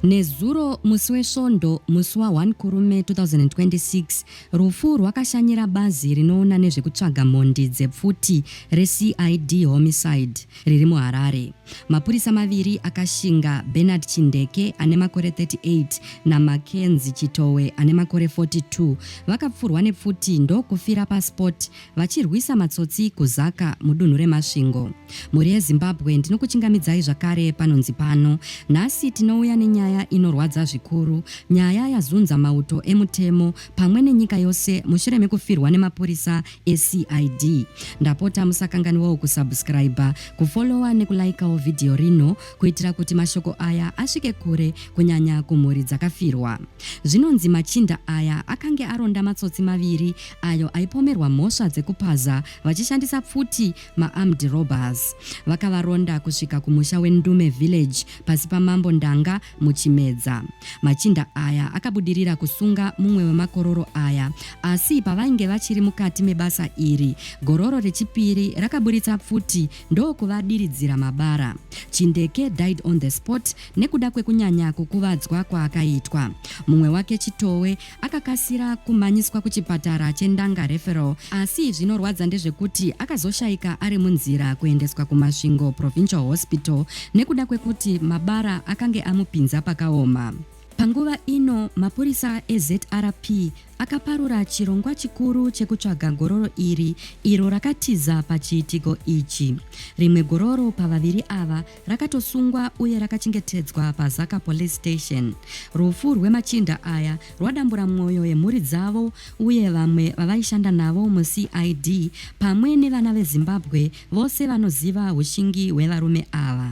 Nezuro musi weSvondo, musi wa 1 Kurume 2026, rufu rwakashanyira bazi rinoona nezvekutsvaga mhondi dzepfuti reCID Homicide riri muHarare. Mapurisa maviri akashinga, Bernard Chindeke ane makore 38 naMackenzie Chitowe ane makore 42, vakapfurwa nepfuti ndokufira paspot vachirwisa matsotsi kuZaka mudunhu reMasvingo. Mhuri yeZimbabwe ndinokuchingamidzai zvakare panonzi pano. Nhasi tinouya nenyaya inorwadza zvikuru, nyaya yazunza mauto emutemo pamwe nenyika yose mushure mekufirwa nemapurisa eCID. Ndapota musakanganiwawo kusubscriber, kufollower nekulaikawo vhidhiyo rino kuitira kuti mashoko aya asvike kure kunyanya kumhuri dzakafirwa. Zvinonzi machinda aya akange aronda matsotsi maviri ayo aipomerwa mhosva dzekupaza vachishandisa pfuti maarmed robbers. Vakavaronda kusvika kumusha weNdume Village pasi paMambo Ndanga muChimedza. Machinda aya akabudirira kusunga mumwe wemakororo aya asi pavainge vachiri mukati mebasa iri, gororo rechipiri rakaburitsa pfuti ndokuvadiridzira mabara. Chindeke died on the spot nekuda kwekunyanya kukuvadzwa kwaakaitwa. Mumwe wake Chitowe akakasira kumhanyiswa kuchipatara cheNdanga Referral asi zvinorwadza ndezvekuti akazoshaika ari munzira kuendeswa kuMasvingo Provincial Hospital nekuda kwekuti mabara akange amupinza pakaoma. Panguva ino mapurisa eZRP akaparura chirongwa chikuru chekutsvaga gororo iri iro rakatiza pachiitiko ichi. Rimwe gororo pavaviri ava rakatosungwa uye rakachengetedzwa paZaka Police Station. Rufu rwemachinda aya rwadambura mwoyo yemhuri dzavo uye vamwe vavaishanda navo muCID pamwe nevana veZimbabwe vose vanoziva hushingi hwevarume ava.